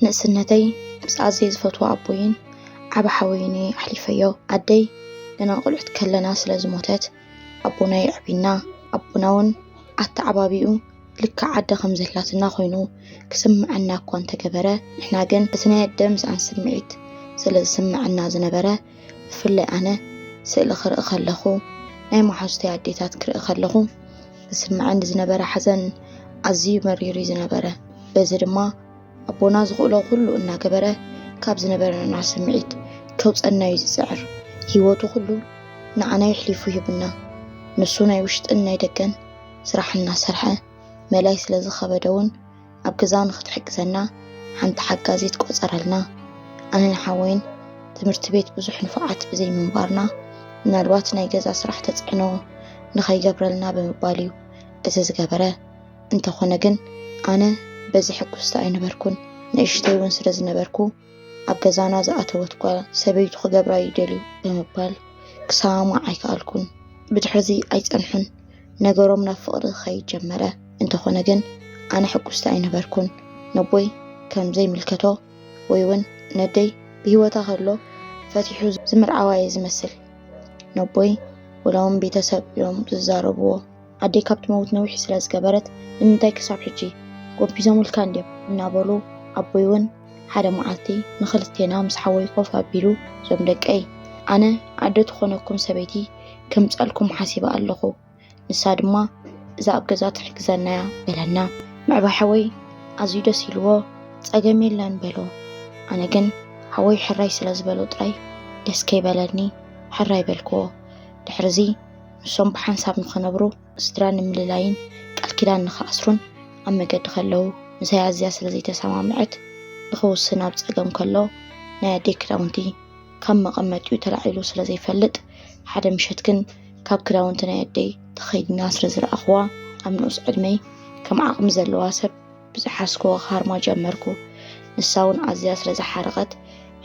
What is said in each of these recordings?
ንእስነተይ ምስ ኣዘየ ዝፈትዎ ኣቦይን ዓብ ሓወይን እየ ኣሕሊፈዮ ኣደይ ገና ቁልዕት ከለና ስለ ዝሞተት ኣቦና የዕቢና ኣቦና እውን ኣተዓባቢኡ ልካ ዓደ ከም ዘላትና ኮይኑ ክስምዐና እኳ እንተገበረ ንሕና ግን እቲ ናይ ኣደ ምስኣን ስምዒት ስለ ዝስምዐና ዝነበረ ብፍላይ ኣነ ስእሊ ክርኢ ከለኹ ናይ መሓዙተይ ኣዴታት ክርኢ ከለኹ ዝስምዐኒ ዝነበረ ሓዘን ኣዝዩ መሪር እዩ ዝነበረ። በዚ ድማ ኣቦና ዝኽእሎ ኩሉ እናገበረ ካብ ዝነበረና ስምዒት ከውፀና እዩ ዝፅዕር። ህይወቱ ኩሉ ንዓና የሕሊፉ ሂቡና። ንሱ ናይ ውሽጥን ናይ ደገን ስራሕ እናሰርሐ መላይ ስለ ዝኸበደ እውን ኣብ ገዛ ንኽትሕግዘና ሓንቲ ሓጋዚት ቆፀረልና። ኣነን ሓወይን ትምህርቲ ቤት ብዙሕ ንፉዓት ብዘይምንባርና ምናልባት ናይ ገዛ ስራሕ ተፅዕኖ ንኸይገብረልና ብምባል እዩ እዚ ዝገበረ። እንተኾነ ግን ኣነ በዚ ሕጉስቲ ኣይነበርኩን፣ ንእሽተይ እውን ስለ ዝነበርኩ ኣብ ገዛና ዝኣተወት ጓል ሰበይቱ ክገብራ ይደልዩ ብምባል ክሰማማዕ ኣይከኣልኩን። ብድሕርዚ ኣይጸንሑን ነገሮም ናብ ፍቕሪ ክኸይድ ጀመረ። እንተኾነ ግን ኣነ ሕጉስቲ ኣይነበርኩን። ነቦይ ከም ዘይምልከቶ ወይ እውን ነደይ ብህይወታ ከሎ ፈቲሑ ዝምርዓዋ እየ ዝመስል። ነቦይ ወላ እውን ቤተሰብ እዮም ዝዛረብዎ። ኣደይ ካብ ትመውት ነዊሕ ስለ ዝገበረት ንምንታይ ክሳብ ሕጂ ጎቢዞምልካ እንድዮም እናበሉ ኣቦይ እውን ሓደ መዓልቲ ንክልቴና ምስ ሓወይ ኮፍ ኣቢሉ እዞም ደቀይ ኣነ ኣደ ትኾነኩም ሰበይቲ ከምጻልኩም ሓሲበ ኣለኹ ንሳ ድማ እዛ ኣብ ገዛ ትሕግዘና እያ በለና ምዕባይ ሓወይ ኣዝዩ ደስ ኢልዎ ጸገም የለን በሎ ኣነ ግን ሓወይ ሕራይ ስለ ዝበሎ ጥራይ ደስ ከይበለኒ ሕራይ በልክዎ ድሕርዚ ንሶም ብሓንሳብ ንኸነብሩ ስድራ ንምልላይን ቃል ኪዳን ንኸኣስሩን ኣብ መገዲ ከለዉ ምሳይ ኣዝያ ስለ ዘይተሰማምዐት ንኽውስን ኣብ ጸገም ከሎ ናይ ኣደይ ክዳውንቲ ካብ መቐመጢኡ ተላዒሉ ስለ ዘይፈልጥ ሓደ ምሸት ግን ካብ ክዳውንቲ ናይ ኣደይ ተኸይድና ስለ ዝረኣኹዋ ኣብ ንኡስ ዕድመይ ከም ዓቕሚ ዘለዋ ሰብ ብዝሓዝክዎ ክሃርማ ጀመርኩ። ንሳ እውን ኣዝያ ስለ ዝሓረቐት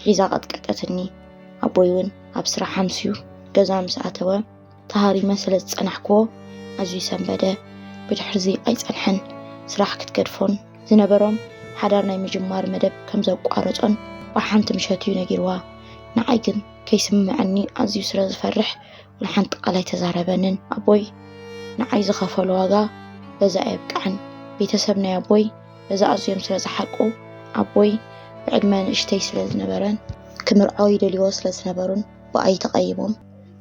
ሒዛ ቀጥቀጠትኒ። ኣቦይ እውን ኣብ ስራሕ ኣምስዩ ገዛ ምስ ኣተወ ተሃሪመ ስለ ዝጸናሕክዎ ኣዝዩ ሰንበደ። ብድሕርዚ ኣይጸንሐን ስራሕ ክትገድፎን ዝነበሮም ሓዳር ናይ ምጅማር መደብ ከም ዘቋረጾን ብሓንቲ ምሸት እዩ ነጊርዋ። ንዓይ ግን ከይስምመዐኒ ኣዝዩ ስለ ዝፈርሕ ንሓንቲ ቃል ኣይተዛረበንን ኣቦይ ንዓይ ዝኸፈሎ ዋጋ በዚ ኣየብቅዐን ቤተሰብ ናይ ኣቦይ በዚ ኣዝዮም ስለ ዝሓቁ ኣቦይ ብዕድመ ንእሽተይ ስለ ዝነበረን ክምርዖ ይደልይዎ ስለ ዝነበሩን ብኣይ ተቐይሞም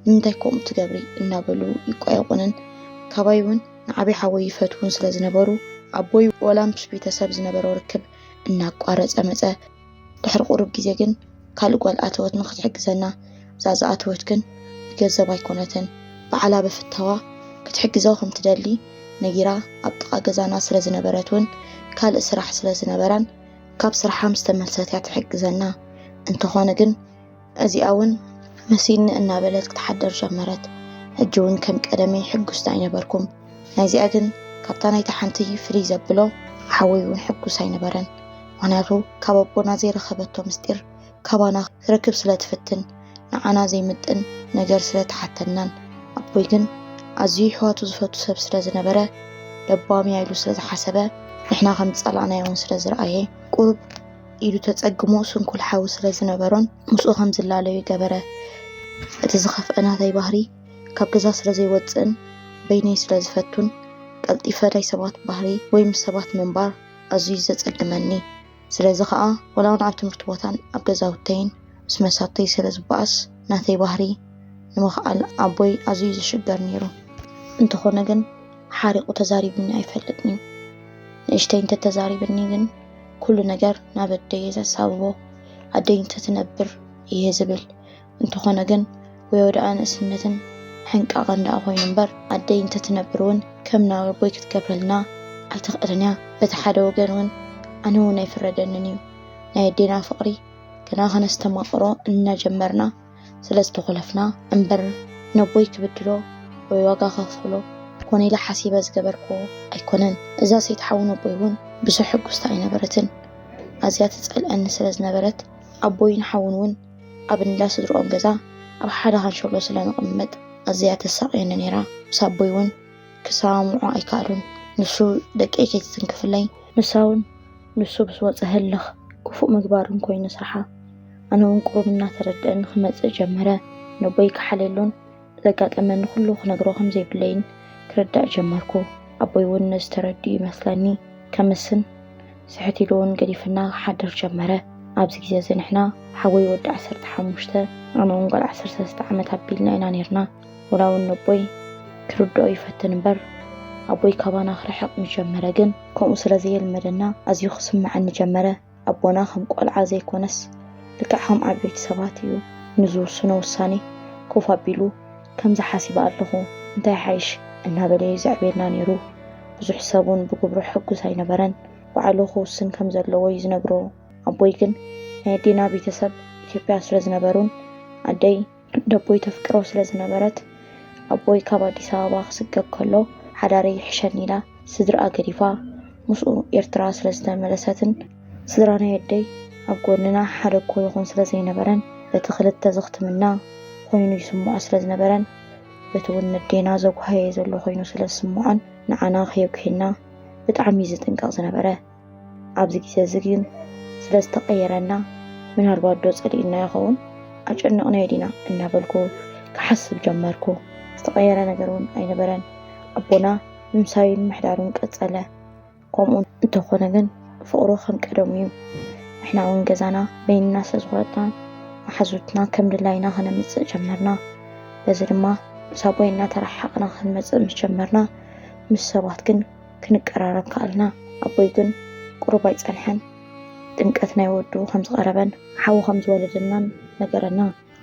ንምንታይ ከምኡ ትገብሪ እናበሉ ይቋየቑንን ካባይ እውን ንዓበይ ሓወይ ይፈትዉን ስለ ዝነበሩ ኣቦይ ወላ ምስ ቤተሰብ ዝነበሮ ርክብ እናቋረፀ መፀ። ድሕሪ ቁሩብ ግዜ ግን ካልእ ጓል ኣተወት ንኽትሕግዘና፣ እዛ ዝኣተወት ግን ብገንዘብ ኣይኮነትን ባዕላ ብፍታዋ ክትሕግዞ ከም ትደሊ ነጊራ ኣብ ጥቓ ገዛና ስለ ዝነበረት ውን ካልእ ስራሕ ስለ ዝነበራን ካብ ስርሓ ምስ ተመልሰት እያ ትሕግዘና እንተኾነ ግን እዚኣ እውን መሲልኒ እናበለት ክትሓደር ጀመረት። ሕጂ እውን ከም ቀደመይ ሕጉስቲ ኣይነበርኩም። ናይዚኣ ግን ካብታ ናይቲ ሓንቲ ፍልይ ዘብሎ ሓወይ እውን ሕጉስ ኣይነበረን። ምክንያቱ ካብ ኣቦና ዘይረከበቶ ምስጢር ካባና ክትረክብ ስለ ትፍትን ንዓና ዘይምጥን ነገር ስለ ትሓተናን ኣቦይ ግን ኣዝዩ ይሕዋቱ ዝፈቱ ሰብ ስለ ዝነበረ ለባም እያ ኢሉ ስለ ዝሓሰበ ንሕና ከም ዝጸላእናዮ እውን ስለ ዝረኣየ ቁሩብ ኢዱ ተጸግሞ ስንኩል ሓዊ ስለ ዝነበሮን ምስኡ ከም ዝላለዩ ገበረ። እቲ ዝኸፍአ ናተይ ባህሪ ካብ ገዛ ስለ ዘይወጽእን በይነይ ስለ ዝፈቱን ቀልጢፈ ናይ ሰባት ባህሪ ወይ ምስ ሰባት ምንባር ኣዝዩ ዘጸግመኒ። ስለዚ ከኣ ወላውን ኣብ ትምህርቲ ቦታን ኣብ ገዛውተይን ምስ መሳቱይ ስለ ዝበኣስ ናተይ ባህሪ ንምኽኣል ኣቦይ ኣዝዩ ዝሽገር ነይሩ። እንተኾነ ግን ሓሪቑ ተዛሪቡኒ ኣይፈልጥን'ዩ። ንእሽተይ እንተተዛሪብኒ ግን ኩሉ ነገር ናብ ኣደይ እየ ዘሳብቦ፣ ኣደይ እንተትነብር እየ ዝብል። እንተኾነ ግን ወዮ ደኣ ንእስነትን ሕንቃቐን ደኣ ኮይኑ እምበር፣ ኣደይ እንተትነብር እውን ከም ናብ ኣቦይ ክትገብረልና ኣይትኽእልን እያ። በቲ ሓደ ወገን እውን ኣነ እውን ኣይፍረደንን እዩ። ናይ ኣዴና ፍቕሪ ገና ከነስተማቕሮ እናጀመርና፣ ስለ ዝተኾለፍና እምበር ነቦይ ክብድሎ ወይ ዋጋ ከኽፍሎ ኮነ ኢለ ሓሲበ ዝገበርክዎ ኣይኮነን። እዛ ሰይቲ ሓዊ ነቦይ እውን ብዙሕ ሕጉስቲ ኣይነበረትን። ኣዝያ ትጸልኣኒ ስለ ዝነበረት ኣቦይን ሓውን እውን ኣብ እንዳ ስድርኦም ገዛ ኣብ ሓደ ካንሸሎ ስለ ንቕመጥ ኣዝያ ተሳቕየኒ ነይራ። ምስ ኣቦይ እውን ክሰማምዑ ኣይከኣሉን። ንሱ ደቀይ ከይትትንክፍለይ፣ ንሳውን ንሱ ምስ ወጸ ህልኽ ክፉእ ምግባርን ኮይኑ ስርሓ። ኣነ እውን ቁሩብ እናተረድኣኒ ክመጽእ ጀመረ። ነቦይ ክሓልየሉን ዘጋጠመኒ ኩሉ ክነግሮ ከም ዘይብለይን ክርዳእ ጀመርኩ። ኣቦይ እውን ነዚ ተረዲኡ ይመስለኒ ከምስን ስሕት ኢሉ እውን ገዲፍና ክሓድር ጀመረ። ኣብዚ ግዜ እዚ ንሕና ሓወይ ወዲ ዓሰርተ ሓሙሽተ ኣነ እውን ጓል ዓሰርተ ሰለስተ ዓመት ኣቢልና ኢና ኔርና። ወላ እውን ነቦይ ክርድኦ ይፈትን እምበር ኣቦይ ካባና ክርሕቕ ምስ ጀመረ ግን ከምኡ ስለ ዘየልመደና ኣዝዩ ክስምዓኒ ጀመረ። ኣቦና ከም ቆልዓ ዘይኮነስ ልክዕ ከም ዓበይቲ ሰባት እዩ ንዝውስኖ ውሳኔ ኮፍ ኣቢሉ ከምዚ ሓሲበ ኣለኹ እንታይ ይሓይሽ እናበለ እዩ ዘዕብየና ነይሩ። ብዙሕ ሰብ ውን ብግብሩ ሕጉስ ኣይነበረን ባዕሉ ክውስን ከም ዘለዎ እዩ ዝነግሮ ኣቦይ ግን ናይ ኣዴና ቤተሰብ ኢትዮጵያ ስለ ዝነበሩን ኣደይ ነቦይ ተፍቅሮ ስለ ዝነበረት፣ ኣቦይ ካብ ኣዲስ ኣበባ ክስገብ ከሎ ሓዳረይ ይሕሸኒ ኢላ ስድርኣ ገዲፋ ምስኡ ኤርትራ ስለ ዝተመለሰትን ስድራ ናይ ኣደይ ኣብ ጎንና ሓደ እኮ ይኹን ስለ ዘይነበረን በቲ ክልተ ዘኽትምና ኮይኑ ይስምዖ ስለ ዝነበረን በቲ ውን ነዴና ዘጉሃየ ዘሎ ኮይኑ ስለ ዝስምዖን ንዓና ከየጉህየና ብጣዕሚ እዩ ዝጥንቀቕ ዝነበረ። ኣብዚ ግዜ እዚ ግን ስለ ዝተቐየረና ምናልባት ዶ ጸሊእና ይኸውን ኣጨነቕናዮ ዲና እናበልኩ ክሓስብ ጀመርኩ። ዝተቐየረ ነገር እውን ኣይነበረን። ኣቦና ምምሳዩን ምሕዳሩን ቀጸለ። ከምኡ እንተኾነ ግን ፍቕሩ ከም ቀደሙ እዩ። ንሕና እውን ገዛና በይንና ስለ ዝኾነትና መሓዙትና ከም ድላይና ክነምጽእ ጀመርና። በዚ ድማ ምስ ኣቦይ እናተረሓቕና ክንመጽእ ምስ ጀመርና ምስ ሰባት ግን ክንቀራረብ ከኣልና። ኣቦይ ግን ቁሩብ ኣይጸንሐን ጥምቀት ናይ ወዱ ከም ዝቐረበን ሓው ከም ዝወለደናን ነገረና።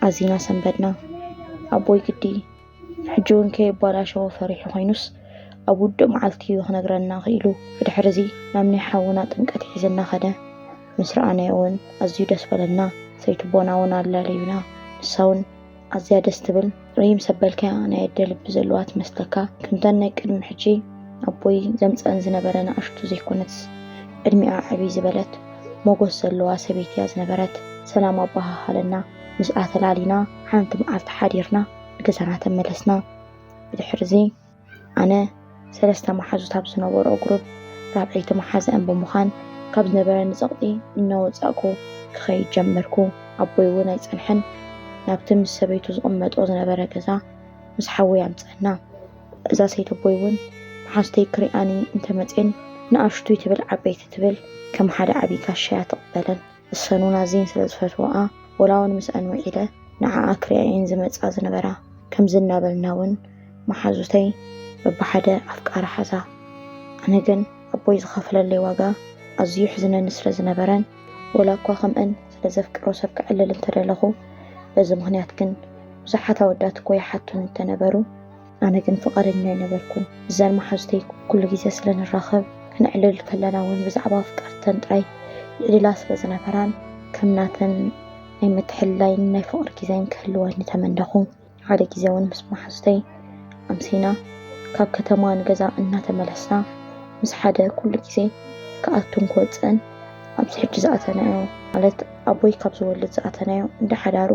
ኣዚና ሰንበድና። ኣቦይ ግዲ ሕጂውን ከየባላሸዎ ፈሪሑ ኮይኑስ ኣብ ውዱእ መዓልቲ እዩ ክነግረና ክኢሉ። ብድሕሪዚ ናብ ናይ ሓውና ጥምቀት ሒዝና ከደ። ምስ ረኣናዮውን ኣዝዩ ደስ በለና። ሰይትቦናውን ኣላልዩና። ንሳውን። ኣዝያ ደስ ትብል ሪም ሰብ በልካያ ናይ ኣደ ልቢ ዘለዋ ትመስለካ ከምተን ናይ ቅድሚ ሕጂ ኣቦይ ዘምጸኣን ዝነበረ ንኣሽቱ ዘይኮነትስ ዕድሚኣ ዕብይ ዝበለት ሞጎስ ዘለዋ ሰበይቲ እያ ዝነበረት ሰላም ኣባሃሃለና ምስኣ ተላሊና ሓንቲ መዓልቲ ሓዲርና ንገዛና ተመለስና ብድሕርዚ ኣነ ሰለስተ መሓዙት ኣብ ዝነበርኦ ግሩፕ ራብዐይቲ መሓዝኣን ብምዃን ካብ ዝነበረኒ ጸቕጢ እናወጻእኩ ክኸይድ ጀመርኩ። ኣቦይ እውን ኣይጸንሐን ናብቲ ምስ ሰበይቱ ዝቕመጦ ዝነበረ ገዛ ምስ ሓወይ ኣምጽኣና። እዛ ሰይቲ ኣቦይ እውን መሓዙተይ ክሪኣኒ እንተመጽየን ንኣሽቱይ ትብል ዓበይቲ ትብል ከም ሓደ ዓብዪ ጋሻ እያ ትቕበለን። እሰኑን ኣዝየን ስለ ዝፈትወኣ ወላውን ምስኣን ውዒለ ንዓኣ ክሪኣ እየን ዝመጽኣ ዝነበራ። ከምዚ እናበልና ውን መሓዙተይ በብሓደ ኣፍቃሪ ሓዛ። ኣነ ግን ኣቦይ ዝኸፈለለይ ዋጋ ኣዝዩ የሕዝነኒ ስለ ዝነበረን ወላኳ ከምኣን ስለ ዘፍቅሮ ሰብ ከዕልል እንተደለኹ በዚ ምኽንያት ግን ብዙሓት ኣወዳት እኮ ይሓቱኒ እንተነበሩ፣ ኣነ ግን ፍቓደኛ ኣይነበርኩን። ምዘን መሓዙተይ ኩሉ ግዜ ስለ ንራኸብ፣ ክነዕልል ከለና እውን ብዛዕባ ኣፍቀርተን ጥራይ ይዕልላ ስለ ዝነበራን፣ ከም ናተን ናይ ምትሕልላይን ናይ ፍቕሪ ግዜን ክህልወኒ ተመነኹ። ሓደ ግዜ እውን ምስ መሓዙተይ ኣምሲና ካብ ከተማ ንገዛ እናተመለስና፣ ምስ ሓደ ኩሉ ግዜ ክኣቱን ክወጽእን ኣብዚ ሕጂ ዝኣተናዮ ማለት ኣቦይ ካብ ዝወልድ ዝኣተናዮ እንዳ ሓዳሩ፣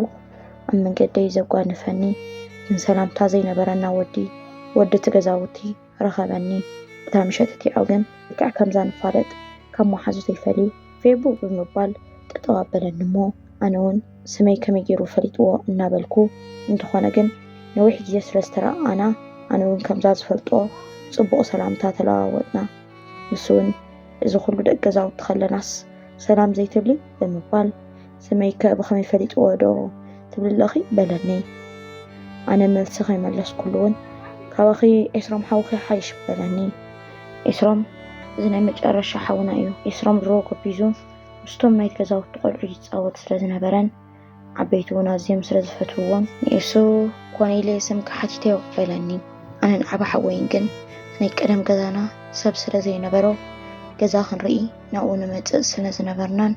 ኣብ መንገደይ ዘጓነፈኒ ግን ሰላምታ ዘይነበረና ወዲ ወዲ እቲ ገዛውቲ ረኸበኒ። እታ ምሸት እቲኣ ግን ልክዕ ከምዛ ንፋለጥ ካብ መሓዙተይ ፈልዩ ፌቡ ብምባል ጠጠው ኣበለኒ እሞ ኣነ እውን ስመይ ከመይ ገይሩ ፈሊጥዎ እናበልኩ እንተኾነ ግን ነዊሕ ግዜ ስለ ዝተረኣኣና ኣነ እውን ከምዛ ዝፈልጦ ጽቡቕ ሰላምታ ተለዋወጥና። ንሱ እውን እዚ ኩሉ ደቂ ገዛውቲ ከለናስ ሰላም ዘይትብሊ ብምባል ስመይ ከ ብኸመይ ፈሊጥዎ ዶ ትብሊ ኣለኺ በለኒ። ኣነ መልሲ ከይመለስኩሉ እውን ካባኺ ኤስሮም ሓውኺ ይሓይሽ በለኒ። ኤስሮም እዚ ናይ መጨረሻ ሓውና እዩ። ኤስሮም ድሮ ጎቢዙ ምስቶም ናይቲ ገዛውቲ ቆልዑ ይፃወት ስለ ዝነበረን ዓበይቲ እውን ኣዝዮም ስለ ዝፈትውዎን ንኤሱ ኮነ ኢለ ስምካ ሓቲተዮ በለኒ። ኣነን ዓቢ ሓወይን ግን ናይ ቀደም ገዛና ሰብ ስለ ዘይነበሮ ገዛ ክንርኢ ናብኡ ንመፅእ ስለ ዝነበርናን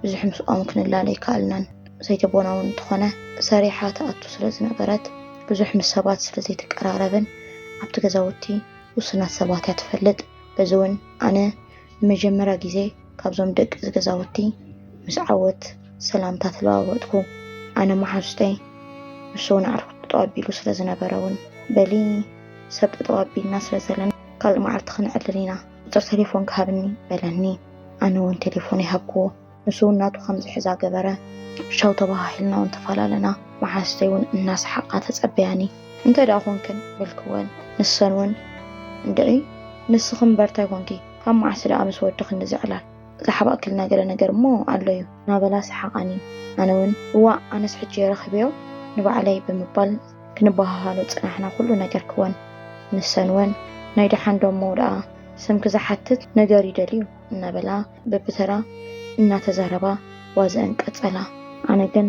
ብዙሕ ምስኦም ክንላለ ኣይከኣልናን። ሰይቲ ቦና እውን እንተኾነ ሰሪሓ ትኣቱ ስለ ዝነበረት ብዙሕ ምስ ሰባት ስለ ዘይትቀራረብን ኣብቲ ገዛውቲ ውሱናት ሰባት እያ ትፈልጥ። በዚ እውን ኣነ ንመጀመርያ ግዜ ካብዞም ደቂ እዚ ገዛውቲ ምስ ዓወት ሰላምታ ተለዋወጥኩ። ኣነ መሓዙተይ ንሱ እውን ኣዕሩኽ ጠጠው ኣቢሉ ስለ ዝነበረ እውን በሊ ሰብ ጠጠው ኣቢልና ስለ ዘለና ካልእ መዓልቲ ክንዕልል ኢና፣ ቁጽሪ ተሌፎንካ ሃብኒ በለኒ። ኣነ ውን ተሌፎነይ ሃብክዎ። ንሱ ውን ናቱ ከም ዝሕዛ ገበረ። ቻው ተበሃሂልና ውን ተፈላለና። መሓዙተይ ውን እናሰሓቓ ተጸበያኒ። እንተ ድኣ ኮንክን በልክወን። ንሰን ውን እንድዒ ንስኺ ምበር ታይ ኮንኪ? ካብ መዓስ ድኣ ምስ ወዲ ክንድዚ ዕላል? ዝሓባእክልና ገለ ነገር እሞ ኣሎ ዩ። እናበላ ሰሓቓኒ። ኣነ ውን እዋእ ኣነስ ሕጂ እየ ረኺበዮ ንባዕለይ ብምባል። ክንበሃሃሎ ጽናሕና ኩሉ ነገር ክወን ንሰን ወን ናይ ደሓን ዶ እሞ ደኣ ስምኪ ዝሓትት ነገር ይደልዩ እናበላ በብተራ እናተዛረባ ዋዘኣን ቀጸላ። ኣነ ግን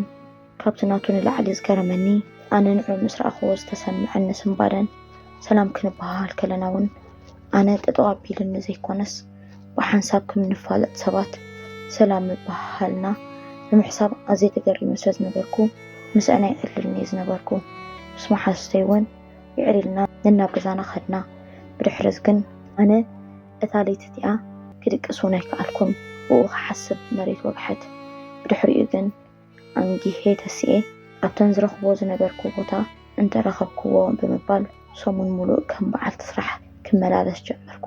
ካብቲ ናቱ ንላዕሊ ዝገረመኒ ኣነ ንዑ ምስ ረኣኹዎ ዝተሰመዐኒ ስንባደን ሰላም ክንበሃሃል ከለና ውን ኣነ ጠጠው ኣቢልኒ ዘይኮነስ ብሓንሳብ ከም እንፋለጥ ሰባት ሰላም ምብሃሃልና ብምሕሳብ ኣዝየ ተገሪመ ስለ ዝነበርኩ ምስኣን ኣይዕልልን እየ ዝነበርኩ። ምስ መሓዙተይ እውን ይዕል ኢልና ነናብ ገዛና ከድና። ብድሕሪ'ዚ ግን ኣነ እታ ለይቲ እቲኣ ክድቅስ እውን ኣይከኣልኩን። ብኡ ክሓስብ መሬት ወግሐት። ብድሕሪኡ ግን። ኣንጊሀ ተሲኤ ኣብተን ዝረኽቦ ዝነበርኩ ቦታ እንተረኸብኩዎ ብምባል ሰሙን ሙሉእ ከም በዓልቲ ስራሕ ክመላለስ ጀመርኩ።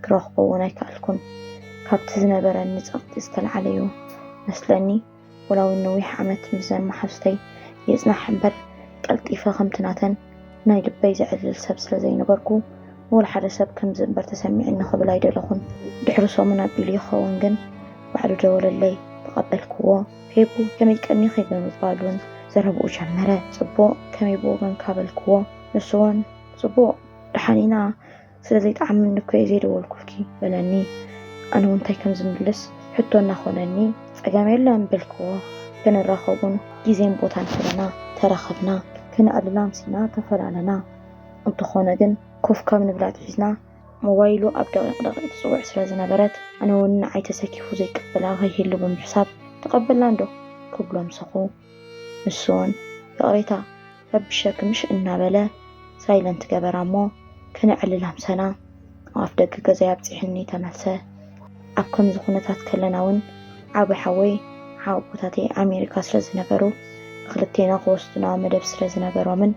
ክረኽቦ እውን ኣይከኣልኩን። ካብቲ ዝነበረኒ ፀቕጢ ዝተልዓለ'ዩ መስለኒ ወላውን ነዊሕ ዓመት ምስዘን መሓዙተይ ይፅናሕ እምበር ቀልጢፈ ከምቲ ናተን ናይ ልበይ ዘዕልል ሰብ ስለ ዘይነበርኩ፣ ንወልሓደ ሰብ ከምዚ እምበር ተሰሚዑኒ ክብል ኣይደለኹን። ድሕሪ ሰሙን ኣቢሉ ይኸውን ግን፣ ባዕሉ ደወለለይ። ተቐበልክዎ። ፌቡ ከመይ ቀኒኺ ብምባል'ውን ዘረብኡ ጀመረ። ጽቡቕ፣ ከመይ ብወገንካ በልክዎ። ንሱ'ውን ጽቡቕ፣ ደሓን ኢና። ስለ ዘይጠዓመኒ እኮ እየ ዘይደወልኩልኪ በለኒ። ኣነ እውን እንታይ ከም ዝምልስ ሕቶ እናኾነኒ ፀገም የለን በልክዎ። ክንራኸቡን ግዜን ቦታን ሒዝና ተራኸብና። ክነዕልል ኣምሲና ተፈላለና። እንተኾነ ግን ኮፍ ካብ ንብል ኣትሒዝና ሞባይሉ ኣብ ደቒቕ ደቒቕ ትፅውዕ ስለ ዝነበረት ኣነ እውን ንዓይ ተሰኪፉ ዘይቅበላ ከይህሉ ብምሕሳብ ተቐበልና'ዶ ክብሎ ምሰኹ። ንሱውን ይቕሬታ ረቢሸኪ ምሽ እናበለ ሳይለንት ገበራ እሞ ከነዕልል ኣምሰና ኣብ ኣፍ ደገ ገዛይ ኣብጺሑኒ ተመልሰ። ኣብ ከምዚ ኩነታት ከለናውን ዓቢ ሓወይ ሓወቦታተይ ኣሜሪካ ስለዝነበሩ ንኽልቴና ክወስዱና መደብ ስለዝነበሮምን፣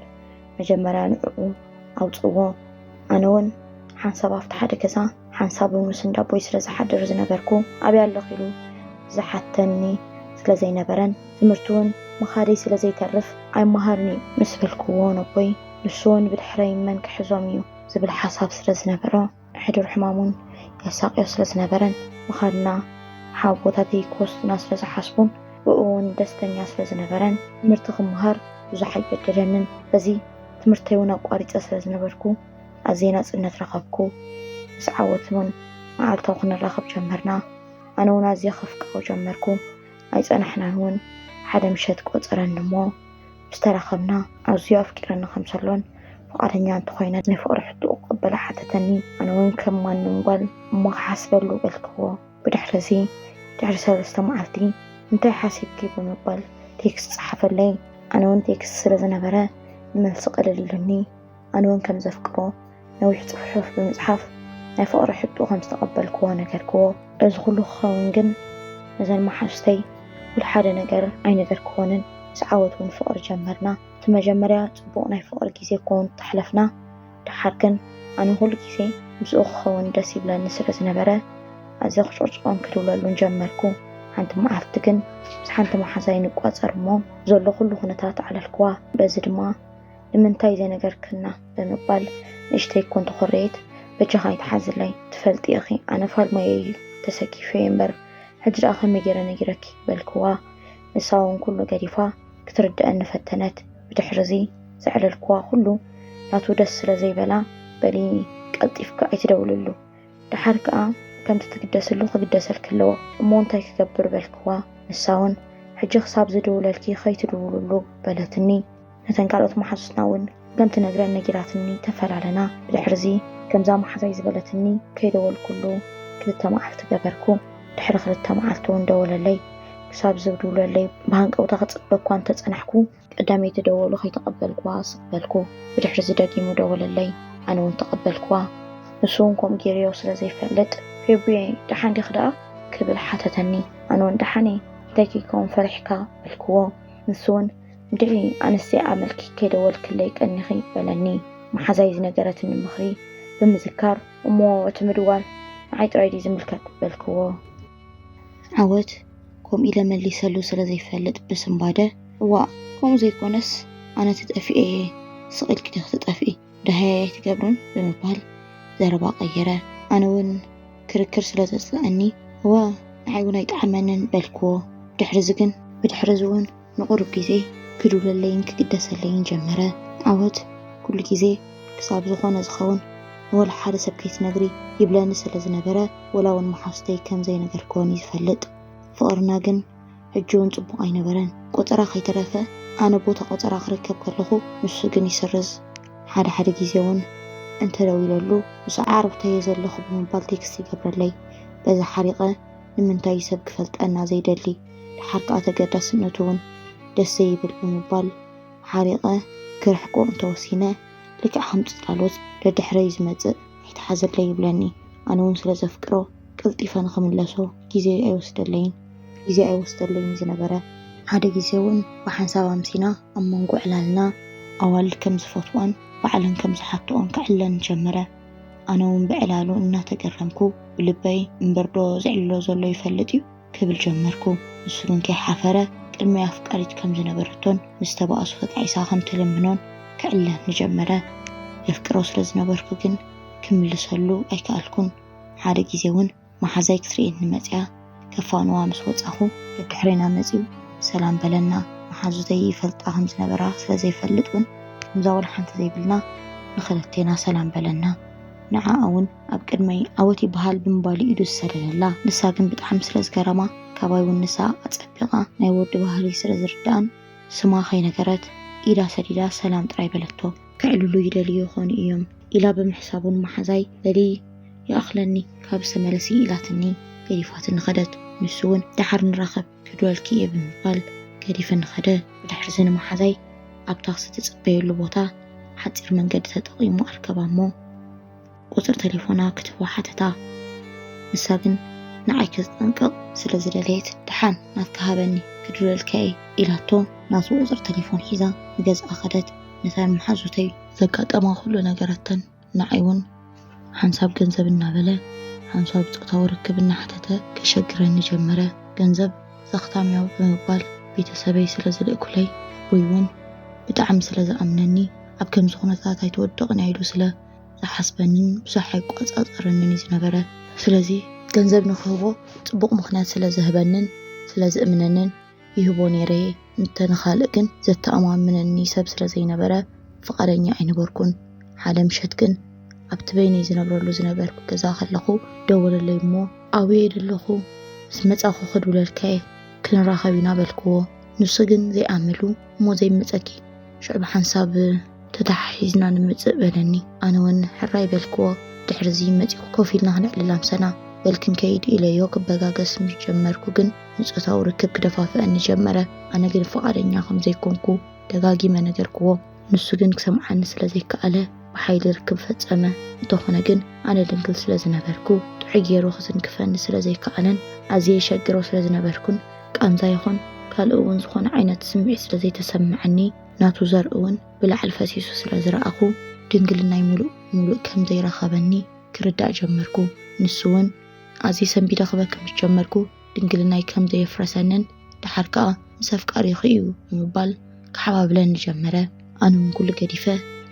መጀመርያ ንዕዑ ኣውጽእዎ ኣነ ውን ሓንሳብ ኣብቲ ሓደ ገዛ ሓንሳብ ውን ምስ እንዳ ኣቦይ ስለ ዝሓድር ዝነበርኩ ኣበይ ኣለኺ ኢሉ ዝሓተኒ ስለ ዘይነበረን ትምህርቲ ውን ምኻደይ ስለ ዘይተርፍ ኣይመሃርን እዩ ምስ በልክዎ ነቦይ ንሱ ውን ብድሕረይ መን ክሕዞም እዩ ዝብል ሓሳብ ስለ ዝነበሮ ሕዱር ሕማሙን የሳቕዮ ስለ ዝነበረን ምኻድና ሓውቦታተይ ክወስዱና ስለ ዝሓስቡን ብእኡውን ደስተኛ ስለ ዝነበረን ትምህርቲ ክመሃር ብዙሕ ኣይገደደንን። በዚ ትምህርተይውን ኣቋሪጸ ስለ ዝነበርኩ ኣዝየ ናጽነት ረኸብኩ። ምስ ዓወትውን መዓልታዊ ክንራኸብ ጀመርና። ኣነውን ኣዝየ ከፍቅሮ ጀመርኩ። ኣይጸናሕናንውን ሓደ ምሸት ቆጸረኒ'ሞ ምስተራኸብና ኣዝዩ ኣፍቂረኒ ከም ዘሎን ፍቓደኛ እንተኾይነ ናይ ፍቕሪ ሕቶኡ ክቕበሎ ሓተተኒ። ኣነ እውን ከም ማንም ጓል እሞ ክሓስበሉ በልክዎ። ብድሕርዚ ድሕሪ ሰለስተ መዓልቲ እንታይ ሓሲብኪ ብምባል ቴክስት ጸሓፈለይ። ኣነ እውን ቴክስት ስለ ዝነበረ ንመልሲ ቀሊል ኢሉኒ። ኣነውን ከም ዘፍቅሮ ነዊሕ ጽሑፍ ብምጽሓፍ ናይ ፍቕሪ ሕቶ ከም ዝተቐበልክዎ ነገርክዎ። እዚ ኩሉ ክኸውን ግን ነዘን መሓዙተይ ውል ሓደ ነገር ኣይነገርክወንን። ምስ ዓወት እውን ፍቕሪ ጀመርና። እቲ መጀመርያ ጽቡቕ ናይ ፍቕሪ ግዜ ክኸውን ተሕለፍና። ደሓር ግን ኣነ ኩሉ ግዜ ምስኡ ክኸውን ደስ ይብለኒ ስለ ዝነበረ ኣዝየ ክጭቕጭቖን ክድውለሉን ጀመርኩ። ሓንቲ መዓልቲ ግን ምስ ሓንቲ መሓዛይ ንቋጸር እሞ ዘሎ ኩሉ ኩነታት ኣዕለልክዋ። በዚ ድማ ንምንታይ ዘይነገርክና ብምባል ንእሽተይ እኮ እንተኾረየት በጃኻ ኣይትሓዝለይ ትፈልጢ ኢኺ ኣነ ፋልማየይ እዩ ተሰኪፈዮ እምበር ሕጂ ደኣ ከመይ ጌረ ነጊረኪ በልክዋ ንሳ ውን ኩሉ ገዲፋ ክትርደኣኒ ፈተነት ብድሕርዚ ዘዕለልክዋ ኩሉ ናቱ ደስ ስለ ዘይበላ በሊ ቀልጢፍኪ ኣይትደውልሉ ደሓር ከኣ ከምቲ ትግደስሉ ክግደሰልኪ ኣለዎ እሞ እንታይ ክገብር በልክዋ ንሳ ውን ሕጂ ክሳብ ዝድውለልኪ ከይትድውልሉ በለትኒ ነተን ካልኦት መሓዙትና እውን ከም ትነግረን ነጊራትኒ ተፈላለና። ብድሕርዚ ከምዛ መሓዛይ ዝበለትኒ ከይደወልኩሉ ክልተ መዓልቲ ገበርኩ። ድሕሪ ክልተ መዓልቲ እውን ደወለለይ። ክሳብ ዝብድውለለይ ብሃንቀውታ ክጽበ እኳ እንተ ጸናሕኩ፣ ቀዳመይቲ ደወሉ ከይተቐበልኩዋ ስቕ በልኩ። ብድሕርዚ ደጊሙ ደወለለይ። ኣነ እውን ተቐበልኩዋ። ንሱ እውን ከምኡ ገይሩዮ ስለ ዘይፈልጥ ፌቡየይ ደሓን ዲኺ ደኣ? ክብል ሓተተኒ። ኣነ እውን ደሓን እየ፣ እንታይ ከይከውን ፈሪሕካ? በልኩዎ። ንሱ እውን ድሕሪ ኣንስተይ ኣመልኪ ከይደወልክለይ ቀኒኺ? በለኒ መሓዛይ ዝነገረትኒ ምኽሪ ብምዝካር። እሞ እቲ ምድዋል ንዓይ ጥራይ ድዩ ዝምልከት? በልክዎ። ዓወት ከምኡ ኢለ መሊሰሉ ስለ ዘይፈልጥ ብስንባደ። እዋእ ከምኡ ዘይኮነስ ኣነ ተጠፊኤ እየ፣ ስቕ ኢልኪ ዲኺ ትጠፍኢ? ደሃያይ ኣይትገብርን? ብምባል ዘረባ ቀየረ። ኣነ እውን ክርክር ስለ ዘጽልኣኒ። እወ ንዓይ እውን ኣይጠዓመንን። በልክዎ። ድሕርዚ ግን? ብድሕርዚ እውን ንቑሩብ ግዜ ክድውለለይን ክግደሰለይን ጀመረ። ዓወት ኩሉ ግዜ ክሳብ ዝኾነ ዝኸውን ንወላ ሓደ ሰብ ከይትነግሪ ይብለኒ ስለ ዝነበረ ወላ ውን መሓዙተይ ከም ዘይነገርክወን እዩ ዝፈልጥ። ፍቕርና ግን ሕጂ ውን ጽቡቕ ኣይነበረን። ቆጸራ ከይተረፈ ኣነ ቦታ ቆጸራ ክርከብ ከለኹ ንሱ ግን ይስርዝ። ሓደ ሓደ ግዜ ውን እንተ ደዊለሉ ምስ ኣዕሩኽተይ እየ ዘለኹ ብምባል ቴክስት ይገብረለይ። በዚ ሓሪቐ ንምንታይ እዩ ሰብ ክፈልጠና ዘይደሊ? ደሓር ከኣ ተገዳስነቱ ውን ደስ ዘይብል ብምባል ሓሪቐ ክርሕቆ እንተወሲነ ልክዕ ከም ጽላሎት ደድሕረይ ዝመጽእ ኣይትሓዘለይ ይብለኒ። ኣነ ውን ስለ ዘፍቅሮ ቀልጢፈ ንኽምለሶ ግዜ ኣይወስደለይን። ግዜ ኣይወስደለይን ዝነበረ ሓደ ግዜ ውን ብሓንሳብ ኣምሲና ኣብ መንጎ ዕላልና ኣዋልድ ከም ዝፈትዋን ባዕለን ከም ዝሓትኦን ክዕለኒ ጀመረ። ኣነ ውን ብዕላሉ እናተገረምኩ ብልበይ እምበርዶ ዝዕልሎ ዘሎ ይፈልጥ ዩ? ክብል ጀመርኩ። ንሱ ግን ከይሓፈረ ቅድሚ ኣፍቃሪት ከም ዝነበረቶን ምስ ተባእሱ ተጣዒሳ ከም ትልምኖን ክዕልለኒ ጀመረ። የፍቅሮ ስለ ዝነበርኩ ግን ክምልሰሉ ኣይከኣልኩን። ሓደ ግዜ እውን መሓዛይ ክትርእየኒ መጺኣ ከፋንዋ ምስ ወጻኹ። ደድሕሬና መጺኡ ሰላም በለና። መሓዙተይ ይፈልጣ ከም ዝነበራ ስለ ዘይፈልጥ እውን ከምዛ ወላ ሓንቲ ዘይብልና ንኽልቴና ሰላም በለና። ንዓኣ እውን ኣብ ቅድመይ ዓወት ይበሃል ብምባሉ ኢዱ ዝሰደደላ። ንሳ ግን ብጣዕሚ ስለ ዝገረማ ካባይ ውን ንሳ ኣጸቢቓ ናይ ወዲ ባህሪ ስለ ዝርድኣን ስማ ከይነገረት ኢዳ ሰዲዳ ሰላም ጥራይ በለቶ። ከዕልሉ ይደልዩ ይኾኑ ኢዮም ኢላ ብምሕሳቡ ንመሓዛይ በሊ ይኣኽለኒ ካብ ዝተመለሲ ኢላትኒ ገዲፋትኒ ከደት። ንሱ ውን ደሓር ንራኸብ ክድወልኪ ኢየ ብምባል ገዲፍኒ ከደ። ብድሕሪዚ ንመሓዛይ ኣብ ታክሲ ትጽበየሉ ቦታ ሓጺር መንገዲ ተጠቒሙ ኣርከባ እሞ፣ ቁጽሪ ተሌፎና ክትህቦ ሓተታ። ንሳ ግን ንዓይ ከተጠንቅቕ ስለ ዝደለየት ደሓን ናትካ ሃበኒ ክድውለልካ እየ ኢላቶ ናቱ ቁጽሪ ተሌፎን ሒዛ ንገዝኣ ከደት። ነተን መሓዙተይ ዘጋጠማ ኩሉ ነገረተን፣ ንዓይ እውን ሓንሳብ ገንዘብ እናበለ ሓንሳብ ጾታዊ ርክብ እናሓተተ ከሸግረኒ ጀመረ። ገንዘብ ዘኽታምዮ ብምባል ቤተሰበይ ስለ ዝልእኩለይ ኣቦይ እውን ብጣዕሚ ስለ ዝኣምነኒ ኣብ ከምዚ ኩነታት ኣይትወድቕን እያ ኢሉ ስለ ዝሓስበንን ብዙሕ ኣይቆጻጸረንን እዩ ዝነበረ። ስለዚ ገንዘብ ንክህቦ ጽቡቕ ምኽንያት ስለ ዘህበንን ስለ ዝእምነንን ይህቦ ነይረ እየ። እንተ ንኻልእ ግን ዘተኣማምነኒ ሰብ ስለ ዘይነበረ ፍቓደኛ ኣይነበርኩን። ሓደ ምሸት ግን ኣብቲ በይነይ ዝነብረሉ ዝነበርኩ ገዛ ከለኹ ደወለለይ እሞ ኣበይ ደለኹ ምስ መጻኹ ክድውለልካ እየ ክንራኸብ ኢና በልክዎ። ንሱ ግን ዘይኣመሉ እሞ ዘይመጸኪ ሽዑ ብሓንሳብ ተተሓሒዝና ንምጽእ በለኒ። ኣነ ውን ሕራይ በልክዎ። ድሕርዚ መጺኹ ኮፍ ኢልና ክነዕልል ኣምሰና። በል ክንከይድ ኢለዮ ክበጋገስ ምስ ጀመርኩ ግን ንጾታዊ ርክብ ክደፋፍኣኒ ጀመረ። ኣነ ግን ፍቓደኛ ከም ዘይኮንኩ ደጋጊመ ነገርክዎ። ንሱ ግን ክሰምዓኒ ስለ ዘይከኣለ ብሓይሊ ርክብ ፈጸመ። እንተኾነ ግን ኣነ ድንግል ስለ ዝነበርኩ ጥዑይ ጌሩ ክትንክፈኒ ስለ ዘይከኣለን ኣዝየ የሸግሮ ስለ ዝነበርኩን ቃንዛ ይኹን ካልእ እውን ዝኾነ ዓይነት ስምዒት ስለ ዘይተሰምዐኒ ናቱ ዘርኢ እውን ብላዕሊ ፈሲሱ ስለ ዝረኣኹ ድንግልናይ ሙሉእ ሙሉእ ከም ዘይረኸበኒ ክርዳእ ጀመርኩ። ንሱ እውን ኣዝየ ሰንቢደ ክበኪ ምስ ጀመርኩ ድንግልናይ ከም ዘየፍረሰንን ደሓር ከኣ ምስ ኣፍቃሪኺ እዩ ብምባል ክሓባብለኒ ጀመረ። ኣነ እውን ኩሉ ገዲፈ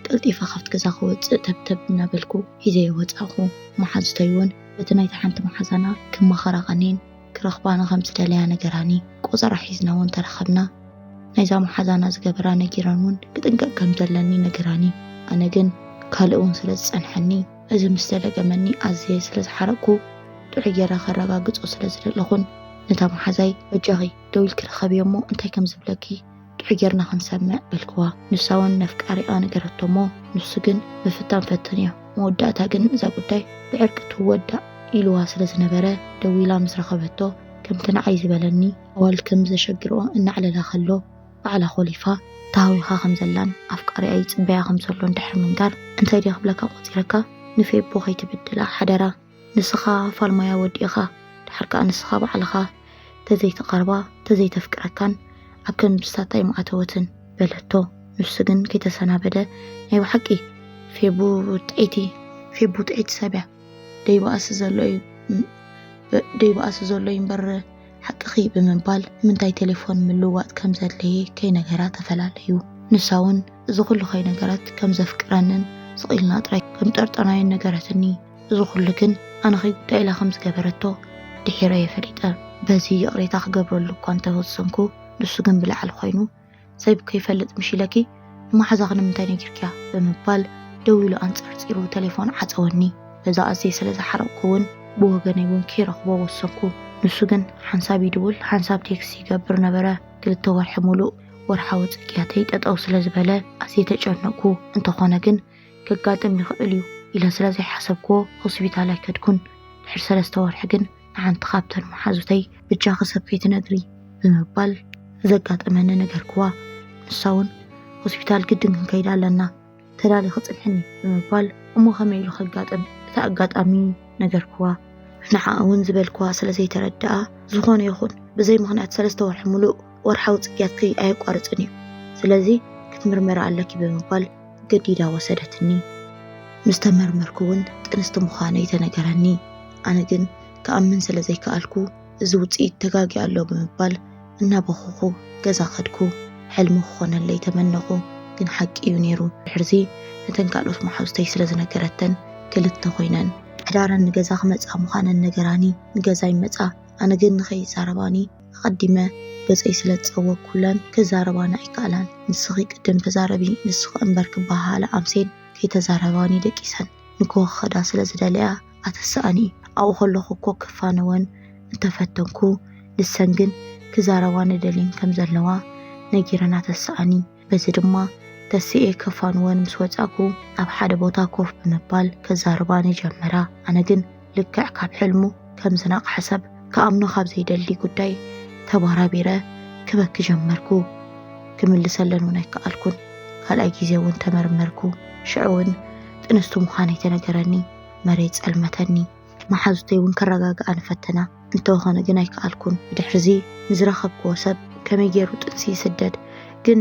ቀልጢፈ ካብቲ ገዛ ክወፅእ ተብተብ እናበልኩ ሒዘዮ ወፃእኹ። መሓዙተይ እውን በቲ ናይታ ሓንቲ መሓዛና ክማኸራ ቀንየን። ክረኽባ ንኸም ዝደለያ ነገራኒ ቆጸራ ሒዝና እውን ተራኸብና ናይዛ መሓዛና ዝገበራ ነጊረን እውን ክጥንቀቕ ከም ዘለኒ ነገራኒ ኣነ ግን ካልእ እውን ስለ ዝጸንሐኒ እዚ ምስ ዘለገመኒ ኣዝየ ስለ ዝሓረቕኩ ጥዑይ ጌራ ከረጋግጾ ስለ ዝደለኹን ነታ መሓዛይ በጃኺ ደው ኢልኪ ርኸብዮ እሞ እንታይ ከም ዝብለኪ ጥዑይ ጌርና ክንሰምዕ በልክዋ። ንሳ እውን ነፍቃሪኣ ነገረቶ እሞ ንሱ ግን ምፍታን ፈተንዮ። መወዳእታ ግን እዛ ጉዳይ ብዕርቂ ትወዳእ ኢልዋ ስለ ዝነበረ ደዊላ ምስ ረኸበቶ ከምቲ ንዓይ ዝበለኒ ኣዋልድ ከም ዘሸግርኦ እናዕለላ ከሎ ባዕላ ኮሊፋ ተሃዊኻ ከም ዘላን ኣፍቃሪኣ ይጽበያ ከም ዘሎን ድሕሪ ምንጋር እንታይ ድየ ክብለካ ቆጺረካ ንፌቦ ከይትብድላ ሓደራ ንስኻ ፋልማያ ወዲ ኢኻ ድሓር ከኣ ንስኻ ባዕልኻ ተዘይተቃርባ ተዘይተፍቅረካን ኣብ ከምብሳታ ኣይምኣተወትን በለቶ ንሱ ግን ከይተሰናበደ ናይ ብሓቂ ፌቡ ጥዒቲ ፌቡ ጥዒቲ ሰብያ ደይባኣሲ ዘሎ እዩ ደይባኣሲ ዘሎ እዩ እምበር ሓቅኺ ብምባል ንምንታይ ቴሌፎን ምልዋጥ ከም ዘድለየ ከይነገራ ተፈላለዩ ንሳ እውን እዚ ኩሉ ከይነገረት ከም ዘፍቅረንን ስቕ ኢልና ጥራይ ከም ጠርጠናዮን ነገረትኒ እዚ ኩሉ ግን ኣነ ከይጉዳእ ኢላ ከም ዝገበረቶ ድሒረ እየ ፈሊጠ። በዚ ይቕሬታ ክገብረሉ እኳ እንተ ወሰንኩ፣ ንሱ ግን ብላዕሊ ኮይኑ፣ ሰይቡ ከይፈልጥ ምሽ ኢለኪ፣ ንመሓዛኺ ንምንታይ ነጊርክያ? ብምባል ደው ኢሉ ኣንጸርጺሩ ተሌፎን ዓጸወኒ። በዛ ኣዝየ ስለ ዝሓረቕኩ እውን ብወገነይ እውን ከይረኽቦ ወሰንኩ። ንሱ ግን ሓንሳብ ይድውል ሓንሳብ ቴክስት ይገብር ነበረ። ክልተ ወርሒ ምሉእ ወርሓዊ ጽግያተይ ጠጠው ስለ ዝበለ ኣዝየ ተጨነቕኩ። እንተኾነ ግን ከጋጥም ይኽእል እዩ ኢለ ስለ ዘይሓሰብክዎ ሆስፒታል ኣይከድኩን። ድሕሪ ሰለስተ ወርሒ ግን ንሓንቲ ካብተን መሓዙተይ ብጃኺ ሰብ ከይትነግሪ ብምባል ዘጋጠመኒ ነገርክዋ። ንሳ እውን ሆስፒታል ግድን ክንከይድ ኣለና ተዳሊኺ ጽንሕኒ ብምባል እሞ ከመይ ኢሉ ከጋጥም እቲ ኣጋጣሚ ነገርክዋ። ንዓኣ እውን ዝበልክዋ ስለ ዘይተረድኣ ዝኾነ ይኹን ብዘይ ምኽንያት ሰለስተ ወርሒ ምሉእ ወርሓዊ ጽግያትኪ ኣየቋርጽን እዩ፣ ስለዚ ክትምርመሪ ኣለኪ ብምባል ገዲዳ ወሰደትኒ። ምስ ተመርመርኩ እውን ጥንስቲ ምዃነይ ተነገረኒ። ኣነ ግን ክኣምን ስለ ዘይከኣልኩ እዚ ውጽኢት ተጋግዩ ኣሎ ብምባል እናበኹኹ ገዛ ከድኩ። ሕልሚ ክኾነለይ ተመነኹ፣ ግን ሓቂ እዩ ነይሩ። ድሕርዚ ነተን ካልኦት መሓዙተይ ስለ ዝነገረተን ክልተ ኮይነን። ሓዳረን ንገዛ ክመጻ ምዃነን ነገራኒ። ንገዛይ መጻ፣ ኣነ ግን ንኸይዛረባኒ። ኣቐዲመ ገጸይ ስለ ዝጸወግኩለን ክዛረባኒ ኣይከኣላን። ንስኺ ቅድም ተዛረቢ ንስኺ እምበር ክበሃሃላ ኣምሴን ከይተዛረባኒ ደቂሰን ንግሆ ክኸዳ ስለ ዝደለያ ኣተሰኣኒ። ኣብኡ ከለኹ እኮ ክፋነወን እንተ ፈተንኩ ንሰን ግን ክዛረባኒ ደልየን ከም ዘለዋ ነጊረን ኣተሰኣኒ። በዚ ድማ ተሲኤ ከፋንወን ምስ ወጻእኩ ኣብ ሓደ ቦታ ኮፍ ብምባል ከዛርባኒ ጀመራ። ኣነ ግን ልክዕ ካብ ሕልሙ ከም ዝነቕሐ ሰብ ክኣምኖ ካብ ዘይደሊ ጉዳይ ተባራቢረ ክበኪ ጀመርኩ። ክምልሰለን እውን ኣይከኣልኩን። ካልኣይ ግዜ እውን ተመርመርኩ። ሽዑ እውን ጥንስቲ ምዃነይ ተነገረኒ። መሬት ጸልመተኒ። መሓዙተይ እውን ከረጋግኣኒ ፈተና፣ እንተኾነ ግን ኣይከኣልኩን። ብድሕርዚ ንዝረኸብክዎ ሰብ ከመይ ገይሩ ጥንሲ ይስደድ፣ ግን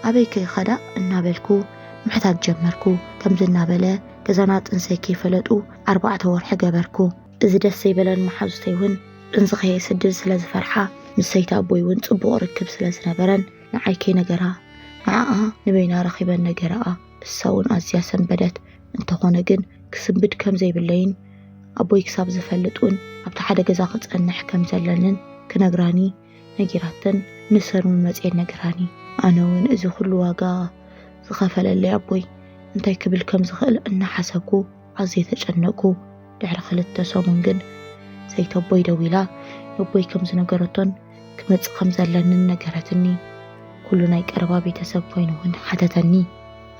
ኣበይከ ይኸዳ እናበልኩ ምሕታት ጀመርኩ። ከምዚ እናበለ ገዛና ጥንሰይ ከይፈለጡ ኣርባዕተ ወርሒ ገበርኩ። እዚ ደስ ዘይበለን መሓዙተይ እውን ጥንሲ ከየስድድ ስለ ዝፈርሓ፣ ምስ ሰይቲ ኣቦይ እውን ጽቡቕ ርክብ ስለ ዝነበረን ንዓይ ከይነገራ ንዓኣ ንበይና ረኺበን ነገረኣ። እሳውን ኣዝያ ሰንበደት፣ እንተኾነ ግን ክስንብድ ከም ዘይብለይን ኣቦይ ክሳብ ዝፈልጥውን ኣብቲ ሓደ ገዛ ክጸንሕ ከም ዘለንን ክነግራኒ ነጊራተን ንሰንውን መጽየን ነግራኒ። ኣነውን እዚ ኩሉ ዋጋ ዝኸፈለለይ ኣቦይ እንታይ ክብል ከም ዝኽእል እናሓሰብኩ፣ ኣዝየ ተጨነቕኩ። ድሕሪ ክልተ ሰሙን ግን ሰይተቦይ ደዊላ ነቦይ ከም ዝነገረቶን ክመጽእ ከም ዘለንን ነገረትኒ። ኩሉ ናይ ቀረባ ቤተሰብ ኮይኑ እውን ሓተተኒ።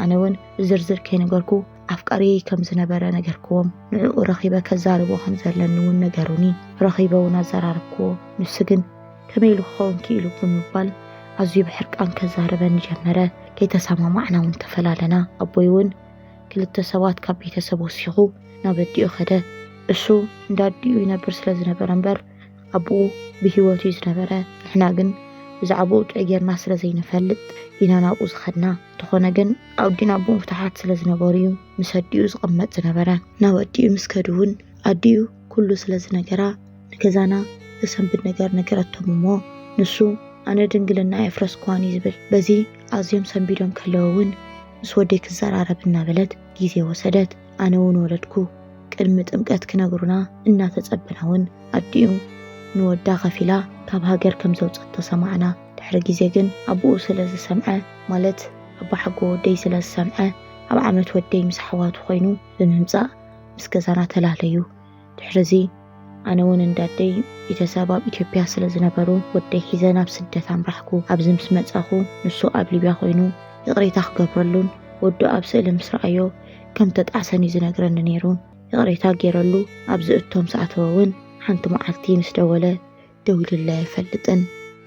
ኣነ እውን ብዝርዝር ከይነገርኩ ኣፍቃሪየይ ከም ዝነበረ ነገርክዎም። ንዕኡ ረኺበ ከዛርቦ ከም ዘለኒ እውን ነገሩኒ። ረኺበ እውን ኣዘራረብክዎ። ንሱ ግን ከመይ ኢሉ ክኸውን ክኢሉ ብምባል ኣዝዩ ብሕርቃን ከዛርበኒ ጀመረ። ከይተሰማማዕና እውን ተፈላለና። ኣቦይ እውን ክልተ ሰባት ካብ ቤተሰብ ወሲኹ ናብ ኣዲኡ ከደ። እሱ እንዳ ኣዲኡ ይነብር ስለ ዝነበረ እምበር ኣቡኡ ብህይወት እዩ ዝነበረ። ንሕና ግን ብዛዕባኡ ጥዑይ ጌርና ስለ ዘይንፈልጥ ኢና ናብኡ ዝኸድና። እንተኾነ ግን ኣዲኡን ኣቡኡን ፍቱሓት ስለ ዝነበሩ እዩ ምስ ኣዲኡ ዝቕመጥ ዝነበረ። ናብ ኣዲኡ ምስ ከዱ እውን ኣዲኡ ኩሉ ስለ ዝነገራ ንገዛና ዘሰንብድ ነገር ነገረቶም እሞ ንሱ ኣነ ድንግልና ኣየፍረስኩዋን እዩ ዝብል። በዚ ኣዝዮም ሰንቢዶም ከለዉ እውን ምስ ወደይ ክዘራረብ እናበለት ግዜ ወሰደት። ኣነ እውን ወለድኩ። ቅድሚ ጥምቀት ክነግሩና እናተጸበና እውን ኣዲኡ ንወዳ ከፊላ ካብ ሃገር ከም ዘውጸቶ ሰማዕና። ድሕሪ ግዜ ግን ኣቡኡ ስለ ዝሰምዐ ማለት ኣቦሓጎ ወደይ ስለ ዝሰምዐ ኣብ ዓመት ወደይ ምስ ኣሕዋቱ ኮይኑ ብምምጻእ ምስ ገዛና ተላለዩ። ድሕርዚ ኣነ እውን እንዳ ኣደይ ቤተሰብ ኣብ ኢትዮጵያ ስለ ዝነበሩ ወደይ ሒዘ ናብ ስደት ኣምራሕኩ። ኣብዚ ምስ መጻኹ ንሱ ኣብ ሊብያ ኮይኑ ይቕሬታ ክገብረሉን ወዱ ኣብ ስእሊ ምስ ረኣዮ ከም ተጣዕሰን እዩ ዝነግረኒ ነይሩ። ይቕሬታ ገይረሉ ኣብ ዝእቶ ምስ ኣተወ እውን ሓንቲ መዓልቲ ምስ ደወለ ደዊሉለይ ኣይፈልጥን።